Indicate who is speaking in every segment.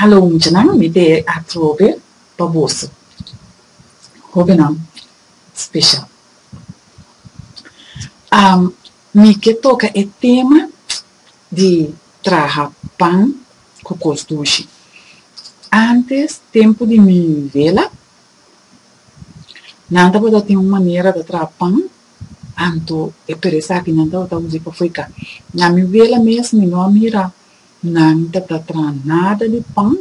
Speaker 1: Hallo muchanan, mi te a trobe pa boso, hobennan special. Mi ke toka e tema di traha pan cu cos dushi. Antes, tempo di mi bela, nan tabata tin un manera ta traha pan, Anto e tur esaki nan tabata usa i pa fui ka. Na mi wela mes mi no a mira nan ta ta traha nada di pan,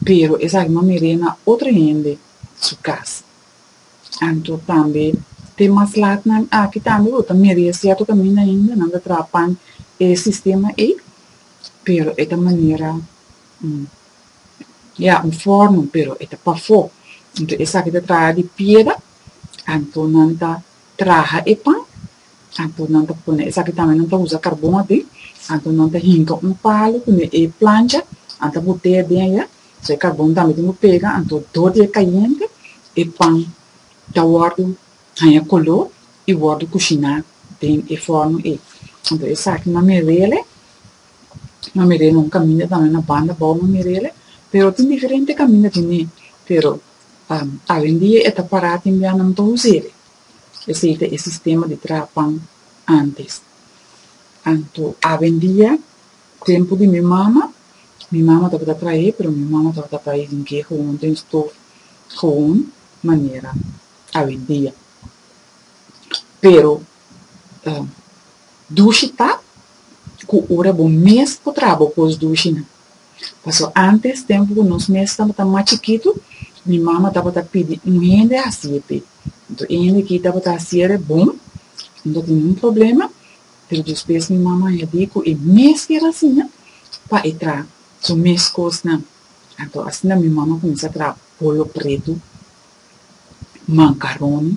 Speaker 1: pero esaki mi a mir'é na otro hende su kas. Anto tambe te mas lat nan aki tambe bo ta mir'é sierto kaminda ainda nan ta traha pan e sistema ei, pero e ta manera ya un fòrno pero e ta pafó. Anto esaki ta traha di piera. Anto nan ta traha e pan, anto nan ta pone, esaki tambe nan ta usa karbon aki, anto nan ta hinka un palu ku ne e plancha, nan ta botea den aya, so e karbon tambe tin ku pega, anto dor di e kayente e pan ta wòrdu haña koló i wòrdu kushiná den e fòrno ei. Anto esaki mamerele, mamerele un kaminda tambe na banda bou mamerele, pero tin diferente kaminda di mi, pero Awendia e ta pará tin bianan pa Huzere, esei ta e sistema di traha pan ántes. Anto awendia, tempu di mi mama, mi mama tabata trah'é, pero mi mama tabata bai den ke houn den stof houn manera awendia. Pero dushi ta ku ora bo mes por traha bo kos dushi nan. Paso antes tempu ku nos mes tabata mas chikitu, mi mama tabata pidi un hende hasiete. Anto e hende aki tabata hasiere bon, no ta tene un problema, pero despues mi mama a hedi ku e mes ker asina pa e traha su mes kosnan. Anto asina mi mama a kuminsá traha polo pretu, mankaroni,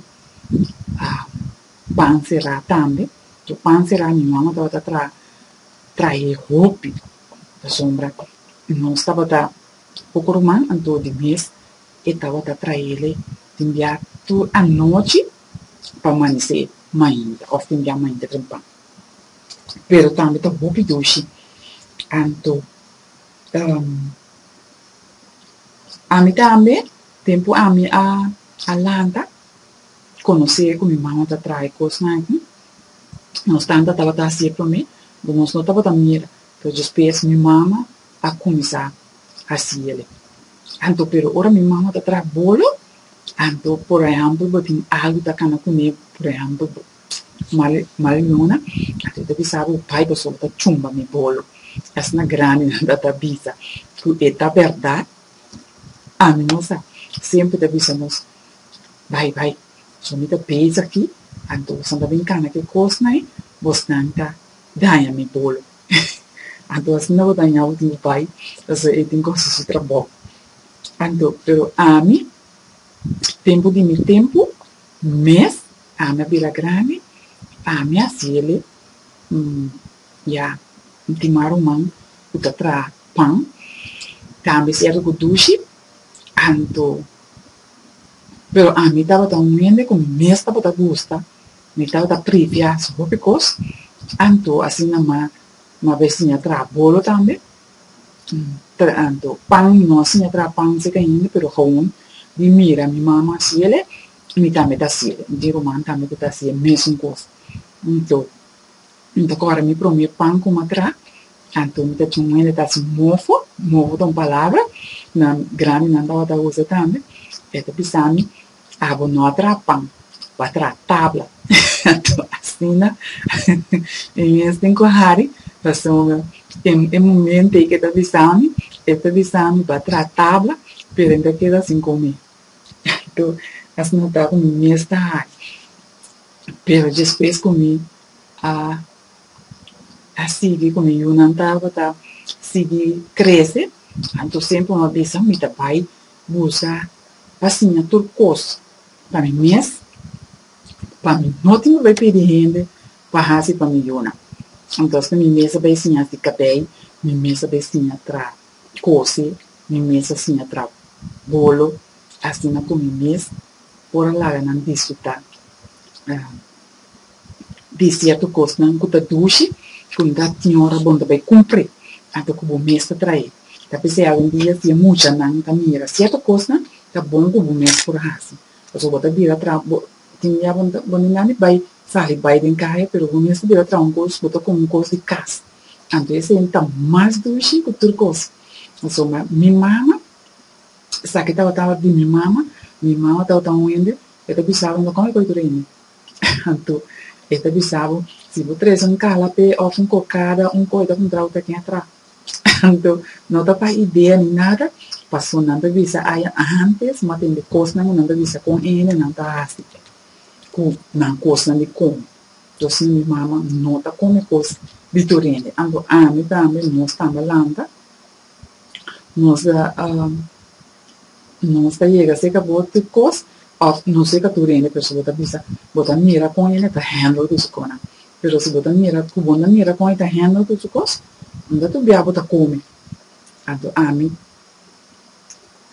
Speaker 1: pan será tambe. Pan será mi mama tabata traha, traha e hopi. Pasobra nos tabata poko ruman, anto di mes e tabata traele tin bia tur anochi pa amanesé mainta òf tin bia mainta tempràn. Pero tambe ta hopi dushi, anto ami tambe tempu ami a a lanta konosé ku mi mama ta trae kosnan aki, Nos tanta tabata hasié promé, but nos no tabata mira, pero despues mi mama a cuminsa hasi el'e. Anto pero ora mi mama ta traha bolo, anto por ehempel bo tin algu ta cana cu me, por ehempel bo mal mal luna, anto e ta bisa bo bai pasobra bo ta chumba mi bolo, asina grandi nan ta ta bisa cu e ta berdad, ami no sa, semper ta bisa nos bai bai. So mi ta beza aki, anto boso no ta bin cana ki cosnan ei, bosnan ta daña mi bolo. Anto asina bo dañabo tin bo bai, pasobra e tin cu haci su trabou. Anto, pero ami, tempo di mi tempo mes, ami a bira grandi, ami a haci el'e, ya, mi tin mas ruman cu ta traha pan, tambe cierto cu dushi, anto. Pero ami tabata un hende ku mi mes tabata gusta, mi tabata pripiá su hopi kos, anto asina ma mi a bai siña traha bolo tambe, ta anto pan mi no a siña traha pan si kainde, pero gawon mi mira mi mama hasiele i mi tambe ta hasiel, mi tin ruman tambe ku ta hasi e mesun kos, anto mi ta kòrda mi promé pan ku mi a traha Anto mi ta tshon muhende ta haci mofo, mofo ta un palabra nan grandinan tabata usa tambe, e ta bisami abo no a traha pan, bo a traha tabla, anto asina mi mes tin cu hari pasobra den e momento ey cu e ta bisami, e ta bisami bo a traha tabla pero ey ta keda sin come, anto asina ta cu mi mes ta hari, pero despues cu mi a. a sigui con e yunan tabata sigui crece, anto semper mi a bisa mi ta bay busa pa siña tur cos pa mi mes, pa mi no tin cu bay pidi hende pa hasi pa mi yunan, antos mi mes a bay siña hasi cabey, mi mes a bay siña traha cosi, mi mes a siña traha bolo, asina cu mi mes por a laga nan disfruta. di sierto kosnan ku ta dushi, ku no ta tin ora bon ta bai kumpri, anto ku bo mes ta trae. Ta p'esei algun dia si e muchanan ta mira sierto kosnan ta bon ku bo mes por hasi, pasobra bo ta bira traha, bo tin dia bo ta bo no na ni bai sali bai den kaya pero bo mes ta bira traha un kos, bo ta komo un kos di kas, anto esei no ta mas dushi ku tur kos. Pasobra ma mi mama, esaki tabataba di mi mama, mi mama tabataba un hende, e ta bisaba, kòm e kòrikuri hende? Anto, e ta bisa bo, Si bo trese un kalape òf un kokada, un koi ta puntra bo ta ken a tra. Anto, no ta pa idea ni nada, pasobra nan ta bisa aya ántes, mi a tende kosnan ku nan ta bisa kon hende nan ta hasi ku nan kosnan di kome. Tos mi, mi mama, no ta kome kos di tur hende, anto ami tambe nos tambe a lanta. Nos ta nos ta yega cerca bo tin cos of no cerca tur hende pero si bo ta bisa bo ta mira con hende ta handle cu su cosnan pero si bo ta mira cu bo na mira con hende ta handle cu su cos unda tur bia bo ta come anto ami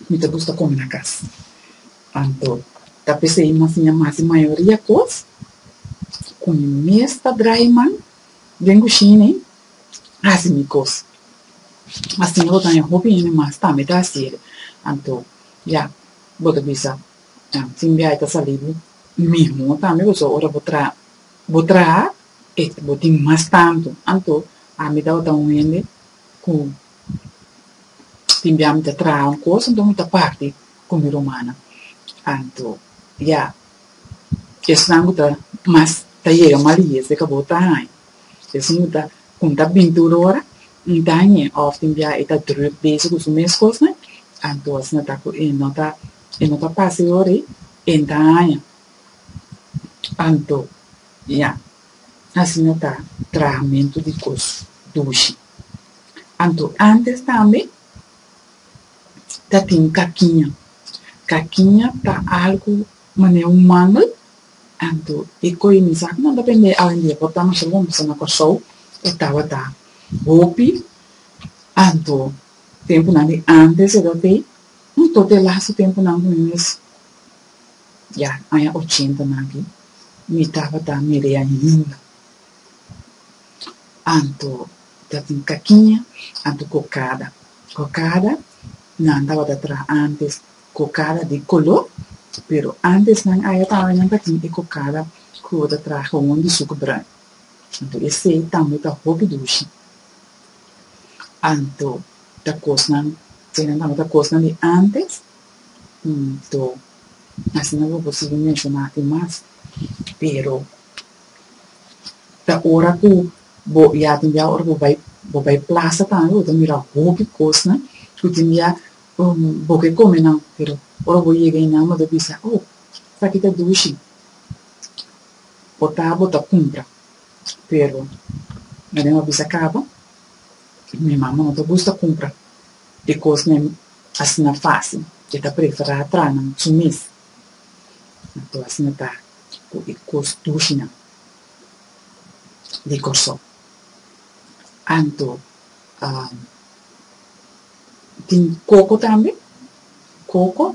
Speaker 1: mi ta gusta come na cas anto ta pesey mas siña mas si mayoria cos cu mi mes ta drai man den gushini hasi mi kos. Mas tin ota hende, hopi hende mas tambe ta hasi ere. Anto, ya, bo ta bisa, en fin biaha e ta sali bo mihó tambe, pasobra ora bo traha, bo traha e bo tin mas tantu. Anto, ami tabata un hende ku tin biaha mi ta traha un kos, anto mi ta parti ku mi rumannan. Anto, ya, esnan ku ta mas, ta yega maliyes, e ka bo ta haña. Esnan lo ta con ta bintur ora un dañe of tin bia e ta druk bezig cu su mes cosnan, anto asina ta cu e no ta e no ta pasa e ora y e daña. Anto, ya, asina ta trahamentu di cos dushi. Anto antes tambe ta tin cakiña. Cakiña ta algo. Mane un mangel, anto e koe mi sa ku nan ta pende awendia por ta masha bon pasobra na Kòrsou e tabata hopi anto. Tempunan di ántes cedatei un tote lastu tempunan ku mi mes ya aña ochentenan aki mi tabata media hinda anto ta tin kakiña anto kokada. Kokada nan tabata traha ántes. Kokada di koló, pero ántes nan a eta nan ta tin e kokada ku ta traha houn di suku bran. Anto esei tambe ta hopi dushi. Anto ta kosnan, eseinan tambe ta kosnan di ántes. Anto asina lo por sigui menshoná tin mas. Pero ta ora ku bo ya tin bia ora bo bai bo bai plasa tambe bo ta mira hopi kosnan ku tin bia Bo ke kome nan, pero ora bo yega ei nan bo ta bisa, Oh, esaki ta dushi. Ota bo ta kumpra, pero na den bo a bisa kaba, mi mama no ta gusta kumpra e kosnan asina fasil, e ta prefera tra nan su mes. Anto asina ta ku e kos dushinan di Kòrsou. Anto, Tin coco tambe, coco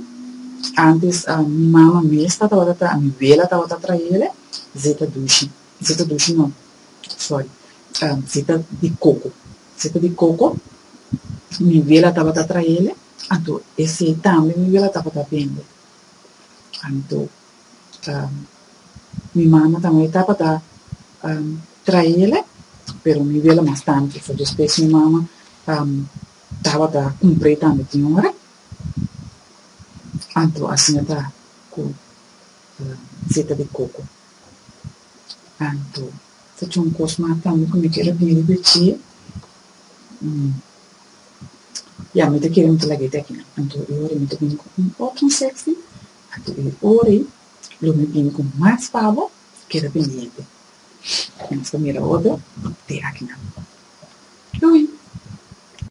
Speaker 1: antes mi mama mes tabata ta mi abuela tabata traele zeta dushi, zeta dushi no sorry zeta di coco, zeta di coco mi abuela tabata traele anto ese tambe mi abuela tabata bende anto. mi mama ta awor tabata traele pero mi wele mas tantu so despues mi mama tabata cumpr'e tambe tin ora anto asin'e ta cu seta di coco anto ta con cos mas tambe cu mi quier a bira birch'e ya mi ta kere mi ta lag'e te aki anto e ora mi ta bini cu un otro insekto. Aki ta e ora ei, lo mi bini ku mas pabo ke repindiente. Nos ta mira oto te akinan. Lui.